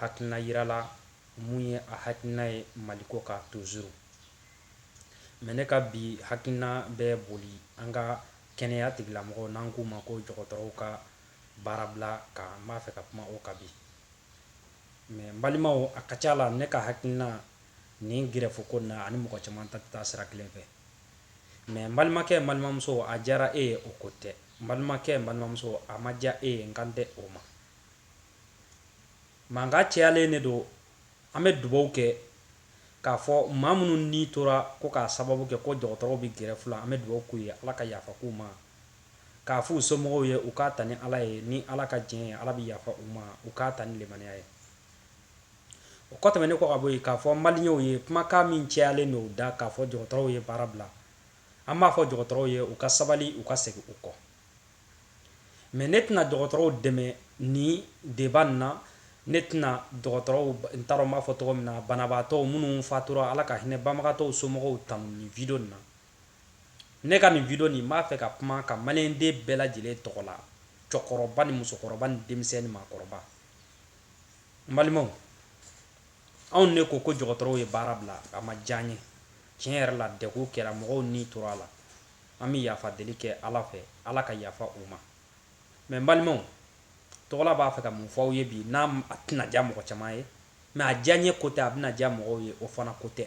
hakilina yirala mun ye a hakilina ye maliko kan tozuru mɛ ne ka bi hakilina bɛ boli an ka kɛnɛya tigilamɔgɔw n'an k'u ma ko dɔgɔtɔrɔw ka baarabila kan n b'a fɛ ka kuma o kan bi mɛ n balimaw a ka ca la ne ka hakilina nin gɛrɛfu ko na ani mɔgɔ caman ta tɛ sira kelen fɛ mɛ n balimakɛ n balimamuso a diyara e ye o ko tɛ n balimakɛ n balimamuso a ma diya e ye n kan tɛ o ma Mankan cayalen de don, an bɛ dubaw kɛ k'a fɔ maa minnu ni tora ko k'a sababu kɛ ko dɔgɔtɔrɔw bɛ gɛrɛfu la, an bɛ dubaw k'u ye Ala ka yafa k'u ma, k'a f'u somɔgɔw ye u k'a ta ni Ala ye, ni Ala ka jɛn ye Ala bɛ yafa u ma, u k'a ta ni limaniya ye. O ko tɛmɛnen kɔ ka bɔ yen, k'a fɔ maliyɛnw ye kumakan min cayalen don u da k'a fɔ dɔgɔtɔrɔw ye baara bila, an b'a fɔ dɔgɔtɔrɔw ye u ka sabali u ka segin u kɔ. mɛ ne tɛna dɔgɔtɔrɔw dɛmɛ nin deba na ne tɛna dɔgɔtɔrɔw n taara b'a fɔ tɔgɔ min na banabaatɔ minnu fatura ala ka hinɛ banabagatɔ somɔgɔw tan nin video na ne ka nin video nin n b'a fɛ ka kuma ka maliden bɛɛ lajɛlen tɔgɔ la cɛkɔrɔba ni musokɔrɔba ni denmisɛn ni maakɔrɔba balimaw anw ne ko ko dɔgɔtɔrɔw ye baara bila a ma diya n ye tiɲɛ yɛrɛ la dɛ ko kɛra mɔgɔw ni tora a la an bɛ yafa deli kɛ Ala fɛ, Ala ka yafa u ma. Mais n balimaw, Togola b'a fɛ ka mun fɔ aw ye bi n'a a tɛna diya mɔgɔ caman ye, mais a diyanye ko tɛ, a bɛna diya mɔgɔw ye o fana ko tɛ.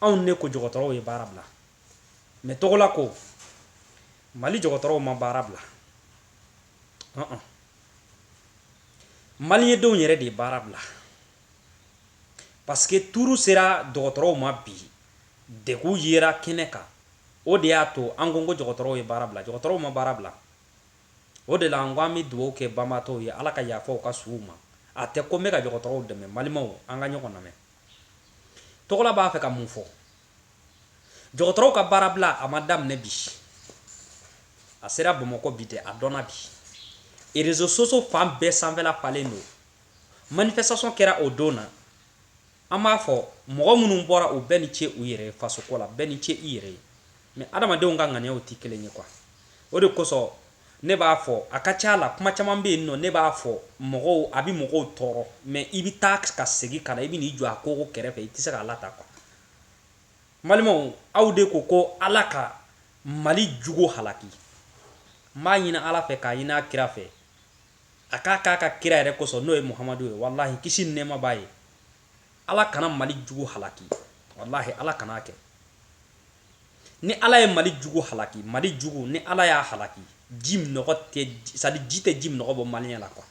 Anw ne ko jɔgɔtɔrɔw ye baara bila, mais Togola ko Mali jɔgɔtɔrɔw ma baara bila. Ɔn-ɔn. Maliyɛn denw yɛrɛ de ye baara bila parce que tuuru sera dɔgɔtɔrɔw ma bi, Degun yera kɛnɛ kan. O de y'a to an ko ko jɔgɔtɔrɔw ye baara bila. Jɔgɔtɔrɔw ma baara bila. O de la n ko an bɛ dugawu kɛ banabaatɔw ye Ala ka yafa u ka suw ma. A tɛ ko n bɛ ka jɔgɔtɔrɔw dɛmɛ. N balimaw, an ka ɲɔgɔn lamɛn. Togola b'a fɛ ka mun fɔ? Jɔgɔtɔrɔw ka baarabila, a ma daminɛ bi. A sera Bamakɔ bi de, a dɔnna bi. E réseaux sociaux fan bɛɛ sanfɛla falen don. Manifestation kɛra o don na. An b'a fɔ mɔgɔ minnu bɔra u bɛɛ ni ce u yɛrɛ ye fasoko la, bɛɛ ni ce i yɛrɛ ye. Mais adamadenw ka ŋaniyaw tɛ kelen ye quoi. O de kosɔn ne b'a fɔ a ka ca la kuma caman bɛ yen nɔ ne b'a fɔ mɔgɔw a bɛ mɔgɔw tɔɔrɔ mais i bɛ taa ka segin ka na i bɛ n'i jɔ a kogo kɛrɛfɛ i tɛ se k'a lata quoi. N balimaw aw de ko ko Ala ka Mali jugu halaki, n b'a ɲini Ala fɛ k'a ɲini a kira fɛ, a k'a k'a ka kira yɛrɛ kosɔn n'o ye muhamadu ye walahi kisi ni nɛɛma b'a ye ala kana mali jugu halaki walahi ala kan'a kɛ ni ala ye mali jugu halaki mali jugu ni ala y'a halaki ji minɔgɔ tɛ sadi ji tɛ ji minɔgɔ bɔ maliyɛn la kuwa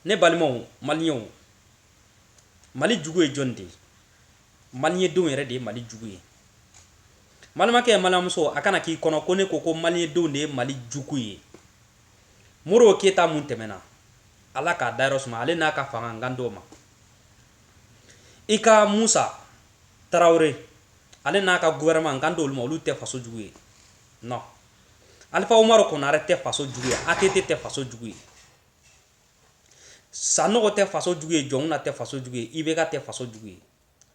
ne balimaw maliyɛnw mali jugu ye jɔni de ye Maliyɛndenw yɛrɛ de ye mali jugu ye balimakɛ balimamuso a kana k'i kɔnɔ ko ne ko ko maliyɛndenw de ye mali jugu ye modibo keyita mun tɛmɛna ala k'a dayɔrɔ suma ale n'a ka fanga n kan t'o ma i ka musa tarawele ale n'a ka guvɛrɛnɛman n kan t'olu ma olu tɛ faso jugu ye non alifa umaru konare tɛ faso jugu ye atete tɛ faso jugu ye Sanɔgɔ tɛ faso jugu ye jɔnkunda tɛ faso jugu ye ibeka tɛ faso jugu ye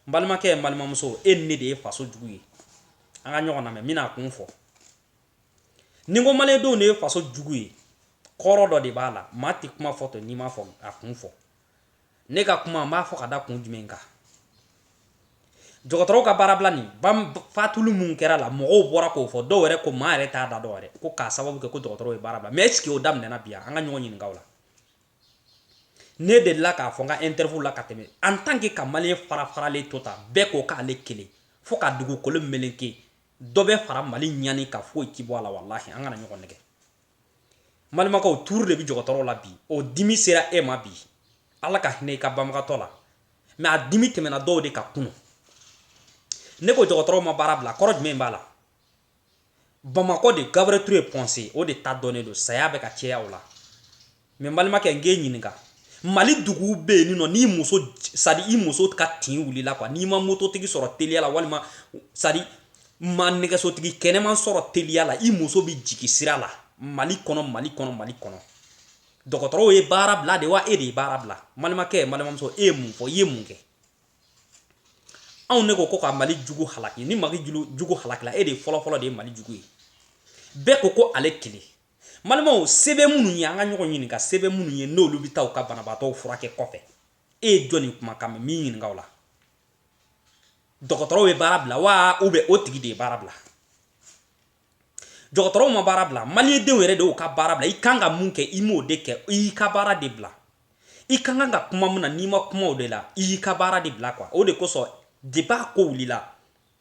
n balimakɛ n balimamuso e ni ne de ye faso jugu ye an ka ɲɔgɔn namɛn n bɛna a kun fɔ ni n ko maliyɛndenw de ye faso jugu ye kɔrɔ dɔ de b'a la maa tɛ kuma fɔ to n'i m'a fɔ a kun fɔ ne ka kuma n b'a fɔ ka da kun jumɛn kan dɔgɔtɔrɔw ka baarabila nin fatuli minnu kɛra a la mɔgɔw bɔra k'o fɔ dɔw yɛrɛ ko maa yɛrɛ t'a da dɔw yɛrɛ ko k'a sababu kɛ ko dɔgɔtɔrɔw ye baara bila mɛ ɛsike o daminɛna bi wa an ka ɲɔgɔn ɲininka o la ne delila k'a fɔ n ka interview la ka tɛmɛ an tan ke ka maliyɛn fara faralen to tan bɛɛ ko k'ale kelen fo ka dugukolo meleke dɔ bɛ fara mali ɲani kan foyi ti bɔ a la walahi an kana ɲɔgɔn nɛgɛn balimakɛw tuuru de bɛ jɔgɔtɔrɔw la bi o dimi sera e ma bi ala ka hinɛ i ka banabagatɔ la mɛ a dimi tɛmɛna dɔw de kan kunu ne ko jɔgɔtɔrɔw ma baara bila kɔrɔ jumɛn b'a la bamakɔ de gabriel ture point g o de ta dɔnnen don saya bɛ ka caya o la Mɛ balimakɛ n k'e ɲininka mali dugu bɛ yen nɔ n'i muso sadi i muso ka tin wilila n'i ma mototigi sɔrɔ teliya la walima sadi i ma nɛgɛsotigi kɛnɛman sɔrɔ teliya la i muso bɛ jigi sira la mali kɔnɔ mali kɔnɔ mali kɔnɔ dɔgɔtɔrɔw ye baara bila de wa e de ye baara bila balimakɛ balimamuso e ye mun fɔ i ye mun kɛ anw ne ko ko ka mali jugu halaki ni mali jugu halakila e de fɔlɔfɔlɔ de ye mali jugu ye bɛɛ ko ko ale kelen Balimaw se bɛ minnu ye an ka ɲɔgɔn ɲininka se bɛ minnu ye n'olu bɛ taa u ka banabaatɔw furakɛ kɔfɛ e ye jɔni kumakan mɛn n b'i ɲininka o la dɔgɔtɔrɔw ye baara bila wa ubiyɛn o tigi de ye baara bila dɔgɔtɔrɔw ma baara bila maliyɛndenw yɛrɛ de y'u ka baara bila i kan ka mun kɛ i m'o de kɛ i y'i ka baara de bila i ka kan ka kuma min na n'i ma kuma o de la i y'i ka baara de bila kuwa o de kosɔn depi a ko wulila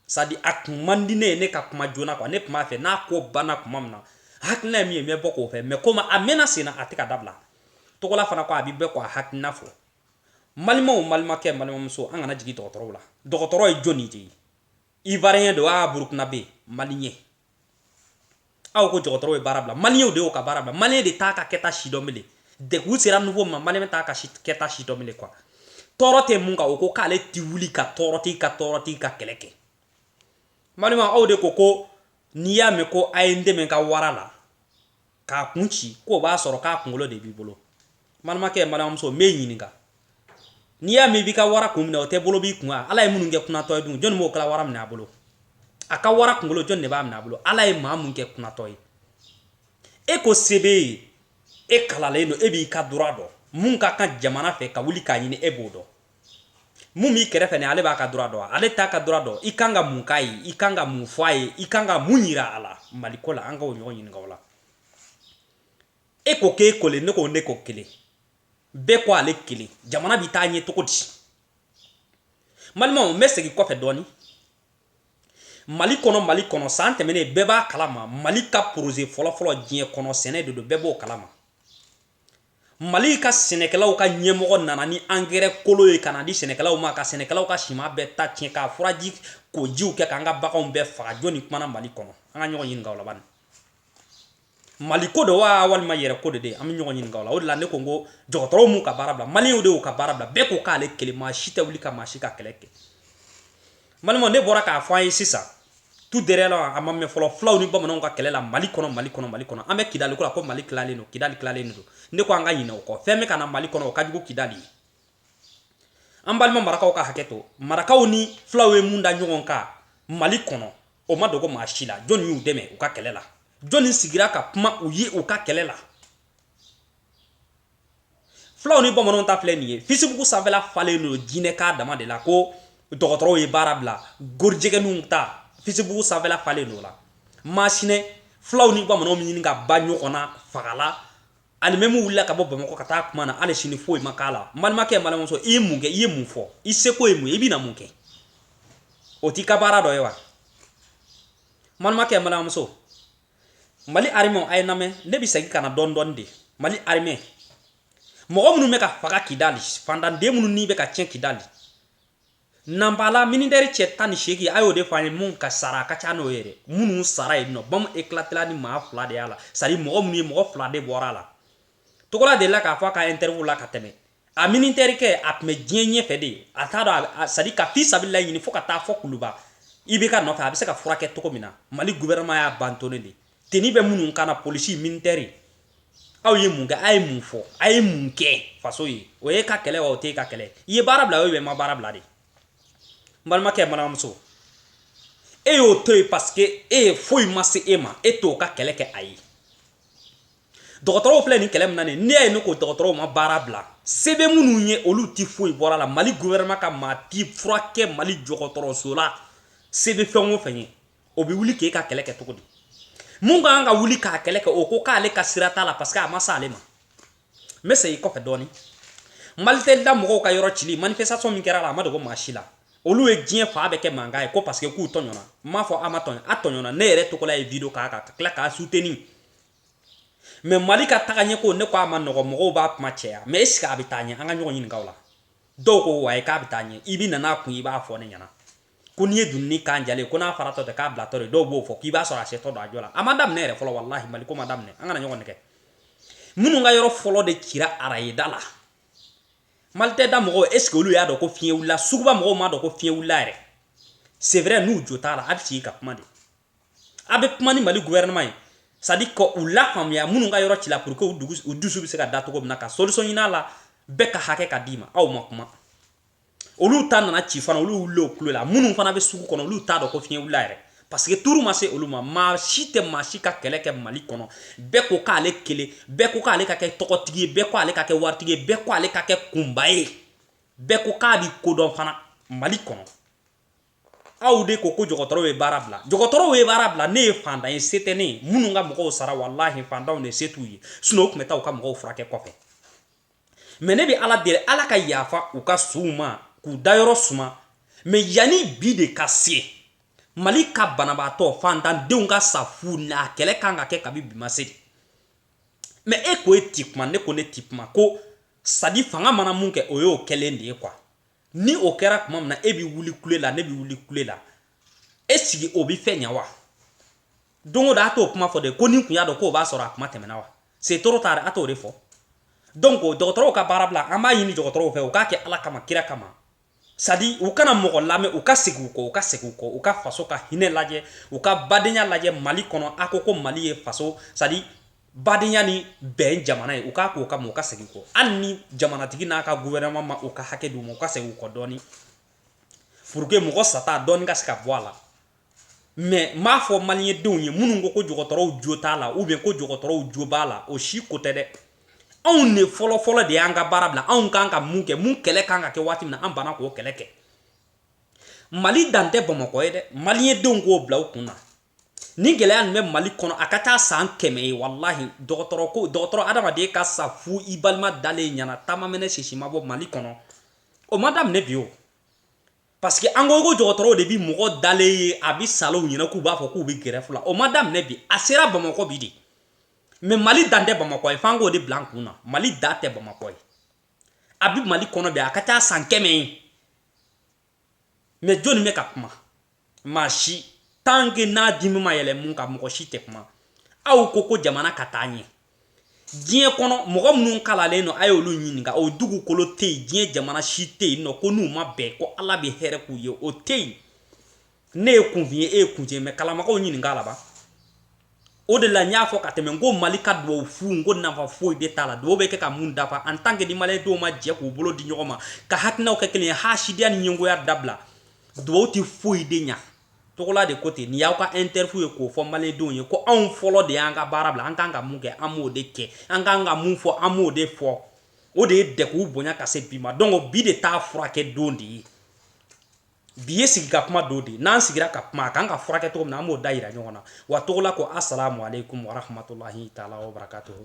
sadi a kun man di ne ye ne ka kuma joona kuwa ne tun b'a fɛ n'a ko banna kuma min na hakilina ye min ye n bɛ bɔ k'o fɔ mɛ komi a mɛnna sen na a tɛ ka dabila togola fana ko a bɛ bɔ k'a hakilina fɔ balimaw balimakɛ balimamuso an kana jigin dɔgɔtɔrɔw la dɔgɔtɔrɔ ye jɔni de ye ivariyɛn don wa burukinabe maliyɛn aw ko dɔgɔtɔrɔw ye baara bila maliyɛnw de y'o ka baara bila maliyɛn de t'a ka kɛta si dɔn bilen degun sera niveau ma maliyɛn t'a ka kɛta si dɔn bilen quoi tɔɔrɔ tɛ mun kan o ko k'ale ti wuli ka tɔɔrɔti ka tɔɔrɔtigi ka kɛlɛ kɛ malima aw de ko ko n'i y'a mɛn ko a ye n dɛmɛ ka wara la k'a kun ci k'o b'a sɔrɔ k'a kunkolo de b'i bolo balimakɛ balimamuso n b'e ɲininka n'i y'a mɛn i b'i ka wara kun minɛ o tɛ bolo b'i kun ala ye minnu kɛ kunatɔ ye dun jɔnni b'o kala wara minɛ a bolo a ka wara kunkolo jɔnni de b'a minɛ a bolo ala ye maa mun kɛ kunatɔ ye e ko se b'e ye e kalalen don e b'i ka droit dɔn mun ka kan jamana fɛ ka wuli k'a ɲini e b'o dɔn mun b'i kɛrɛfɛ ni ale b'a ka droit dɔn ale t'a ka droit dɔn i kan ka mun k'a ye i kan ka mun fɔ a ye i kan ka mun yira a la mali ko la an ka ɲɔgɔn ɲininka o la e ko k'e kelen ne ko ne ko kelen bɛɛ ko ale kelen jamana bɛ taa ɲɛ cogo di malimaw n bɛ segin kɔfɛ dɔɔni mali kɔnɔ mali kɔnɔ san tɛmɛnen bɛɛ b'a kalama mali ka poroze fɔlɔfɔlɔ diɲɛ kɔnɔ sɛnɛ de don bɛɛ b'o kalama Mali ka sɛnɛkɛlaw ka ɲɛmɔgɔ nana ni angɛrɛ kolon ye ka n'a di sɛnɛkɛlaw ma ka sɛnɛkɛlaw ka siman bɛɛ ta tiɲɛ ka furaji ko jiw kɛ k'an ka baganw bɛɛ faga jɔni kumana Mali kɔnɔ an ka ɲɔgɔn ɲininka o la bani Mali ko don wa walima yɛrɛ ko de de an bɛ ɲɔgɔn ɲininka o la o de la ne ko n ko dɔgɔtɔrɔw m'u ka baara bila maliyɛnw de y'u ka baara bila bɛɛ ko k'ale kelen maa si tɛ wuli ka maa si ka kɛlɛ kɛ malima ne bɔra k'a fɔ an ye sisan tout dernier la a ma mɛn fɔlɔ fulaw ni bamananw ka kɛlɛ la mali kɔnɔ mali kɔnɔ mali kɔnɔ an bɛ kidali ko la ko mali tilalen don kidali tilalen don ne ko an ka ɲinɛ o kɔ fɛn bɛ ka na mali kɔnɔ o ka jugu kidali ye an balima marakaw ka hakɛ to marakaw ni fulaw ye mun da ɲɔgɔn kan mali kɔnɔ o ma dogo maa si la jɔnni y'u dɛmɛ u ka kɛlɛ la jɔnni sigira ka kuma u ye u ka kɛlɛ la fulaw ni bamananw ta filɛ nin ye facebook sanfɛla falen don jinɛkan dama de la ko dɔgɔtɔrɔw ye baara bila gorijɛgɛninw ta facebook sanfɛla falen don la masinɛ fulaw ni bamananw bɛ ɲini ka ban ɲɔgɔn na faga la hali même u wulila ka bɔ bamakɔ ka taa kuma na hali sini foyi ma k'a la balimakɛ balimamuso i ye mun kɛ i ye mun fɔ i seko ye mun ye i bɛna mun kɛ o t'i ka baara dɔ ye wa balimakɛ balimamuso mali arimɛ a ye n lamɛn ne bɛ segin ka na dɔɔni dɔɔni de mali arimɛ mɔgɔ minnu bɛ ka faga kidali faantanden minnu ni bɛ ka tiɲɛ kidali nanpala militɛri cɛ tan ni seegin a y'o de fɔ an ye mun ka sara a ka ca n'o ye dɛ minnu sara yen nɔ bɔmu ekilatela ni maa fila de y'a la c'est-à-dire mɔgɔ minnu ye mɔgɔ fila de bɔra a la togola delila k'a fɔ a ka interview la ka tɛmɛ a militɛri kɛ a tun bɛ diɲɛ ɲɛfɛ de ye a t'a dɔn sadi ka fisabilila ɲini fo ka taa fɔ kuluba ibk nɔfɛ a bɛ se ka furakɛ cogo min na mali gouvernement y'a abandonné de tenue bɛ minnu kan na polisi militɛri aw ye mun kɛ a ye mun fɔ a ye mun kɛ faso ye o ye ka kɛlɛ o tɛ ka kɛlɛ i ye baara bila o bɛ ma baara bila de n balimakɛ n balimamuso e y'o to yen paseke e ye foyi ma se e ma e t'o ka kɛlɛ kɛ a ye dɔgɔtɔrɔw filɛ nin kɛlɛ min na nin ne ye ne ko dɔgɔtɔrɔw ma baara bila se bɛ minnu ye olu tɛ foyi bɔra la mali gouvernement ka maa ti furakɛ mali dɔgɔtɔrɔso la se bɛ fɛn o fɛn ye o bɛ wuli k'e ka kɛlɛ kɛ cogo di min ka kan ka wuli k'a kɛlɛ kɛ o ko k'ale ka sira t'a la parce que a ma s'ale ma n bɛ segin kɔfɛ dɔɔni malitɛli da mɔgɔw ka yɔrɔ cili manifestation min kɛra la a ma dogo maa si la olu ye diɲɛ fan bɛɛ kɛ mankan ye ko parce que k'u tɔɲɔna n m'a fɔ a ma tɔɲɔ a tɔɲɔna ne yɛrɛ togola ye video k'a kan ka tila k'a soutenir mɛ mali ka taga ɲɛ ko ne ko a ma nɔgɔ mɔgɔw b'a kuma caya mɛ esike a bɛ taa ɲɛ an ka ɲɔgɔn ɲininka o la dɔw ko wa ye k'a bɛ taa ɲɛ i bi nana kun i b'a fɔ ne ɲɛna ko n'i ye dunun kan diyalen ko n'a faratɔ tɛ k'a bilatɔ de dɔw b'o fɔ k'i b'a sɔrɔ a setɔ don a jɔ la a ma daminɛ yɛrɛ fɔlɔ walahi mali ko ma daminɛ an kana ɲɔgɔn nɛgɛ minnu ka yɔrɔ fɔlɔ de cira arayida la malitɛli da mɔgɔw esike olu y'a dɔn ko fiɲɛ wulila suguba mɔgɔw m'a dɔn ko fiɲɛ wulila yɛrɛ c'est vrai n'u jo t'a la a bɛ sigi ka kuma de a bɛ kuma ni mali gouvernement ye c'est à dire ka u lafaamuya minnu ka yɔrɔ cila pour que u dusu bɛ se ka da cogo min na ka solution ɲini a la bɛɛ ka hakɛ ka d'i ma aw ma kuma olu ta nana ci fana olu wulila o kulo la minnu fana bɛ sugu kɔnɔ olu t'a dɔn ko fiɲɛ wulila yɛrɛ parce que tour ma se olu ma maa si tɛ maa si ka kɛlɛ kɛ mali kɔnɔ bɛɛ ko k'ale kelen bɛɛ ko k'ale ka kɛ tɔgɔtigi ye bɛɛ ko ale ka kɛ waritigi ye bɛɛ ko ale ka kɛ kunba ye bɛɛ ko k'a bi kodɔn fana mali kɔnɔ aw de ko ko dɔgɔtɔrɔw ye baara bila dɔgɔtɔrɔw ye baara bila ne ye fantan ye se tɛ ne ye minnu ka mɔgɔw sara walahi fantanw de se t'u ye sinɔn u tun bɛ taa u ka mɔgɔw furakɛ kɔfɛ mɛ ne bɛ ala deli ala ka yafa u ka suw ma k'u dayɔrɔ suma mɛ yanni bi de ka se mali ka banabaatɔ fantandenw ka sa fu n'a kɛlɛ kan ka kɛ kabi bi ma se de mɛ e ko e ti kuma ne ko ne ti kuma ko sadi fanga mana mun kɛ o y'o kɛlen de ye kuwa ni o kɛra kuma min na e bɛ wuli kule la ne bɛ wuli kule la esike o bɛ fɛn ɲɛ wa don o don a t'o kuma fɔ de ko ni n kun y'a dɔn k'o b'a sɔrɔ a kuma tɛmɛna wa c'est trop tard a t'o de fɔ donc dɔgɔtɔrɔw ka baara bila an b'a ɲini dɔgɔtɔrɔw fɛ u k'a kɛ ala kama kira kama sadi u kana mɔgɔ lamɛn u ka segin u kɔ u ka segin u kɔ u ka faso ka hinɛ lajɛ u ka badenya lajɛ mali kɔnɔ a ko ko mali ye faso sadi badenya ni bɛn jamana ye u k'a k'o kama u ka segin kɔ hali ni jamanatigi n'a ka gouvernement ma u ka hakɛ d'u ma u ka segin u kɔ dɔɔni pour que mɔgɔ sata dɔɔni ka se ka bɔ a la mais n b'a fɔ maliyɛn denw ye minnu ko ko dɔgɔtɔrɔw jo t'a la ou bien ko dɔgɔtɔrɔw jo b'a la o si ko tɛ dɛ anw de fɔlɔfɔlɔ de y'an ka baara bila anw kan ka mun kɛ mun kɛlɛ kan ka kɛ waati min na an banna k'o kɛlɛ kɛ mali dan tɛ bamakɔ ye dɛ maliyɛn denw k'o bila u kun na nin gɛlɛya nin bɛ mali kɔnɔ a ka ca san kɛmɛ ye walahi dɔgɔtɔrɔ ko dɔgɔtɔrɔ adamaden ka sa fu i balima dalen ɲɛna ta ma mɛnɛ sisi ma bɔ mali kɔnɔ o ma daminɛ bi o parce que an ko ko dɔgɔtɔrɔw de bi mɔgɔ dalen ye a bi sa olu ɲɛna k'u b'a fɔ k'u bi grève la o ma daminɛ bi a sera bamakɔ bi de mais mali dan tɛ bamakɔ ye f'an k'o de bila an kun na mali dan tɛ bamakɔ ye a bi mali kɔnɔ bi a ka ca san kɛmɛ ye mais jɔnni bɛ ka kuma maa si tant que n'a dimi ma yɛlɛ mun kan mɔgɔ si tɛ kuma aw ko ko jamana ka taa ɲɛ diɲɛ kɔnɔ mɔgɔ minnu kalalen don a y'olu ɲininka o dugukolo tɛ yen diɲɛ jamana si tɛ yen nɔ ko n'u ma bɛn ko ala bɛ hɛrɛ k'u ye o tɛ yen ne ye kunfin ye e ye kunfin ye mais kalanbagaw ɲininka a la ba o de la n y'a fɔ ka tɛmɛ n ko mali ka dubabu fu n ko nafa foyi de t'a la dubabu bɛ kɛ ka mun dafa en tant que ni maliyɛn denw ma jɛ k'u bolo di ɲɔgɔn ma ka hakilinaw kɛ kelen ye hasidiya ni ɲɛngoya dabila dubabu tɛ foyi de ɲa togola de ko ten nin y'aw ka interview ye k'o fɔ maliyɛn denw ye ko anw fɔlɔ de y'an ka baara bila an kan ka mun kɛ an b'o de kɛ an kan ka mun fɔ an b'o de fɔ o de ye dɛguw bonya ka se bi ma donc bi de t'a furakɛ don de ye bi ye sigi ka kuma don de ye n'an sigira ka kuma a kan ka furakɛ cogo min na an b'o dayira ɲɔgɔn na wa togola ko asalamu aleykum warahmatulahi taala wabarakatuhu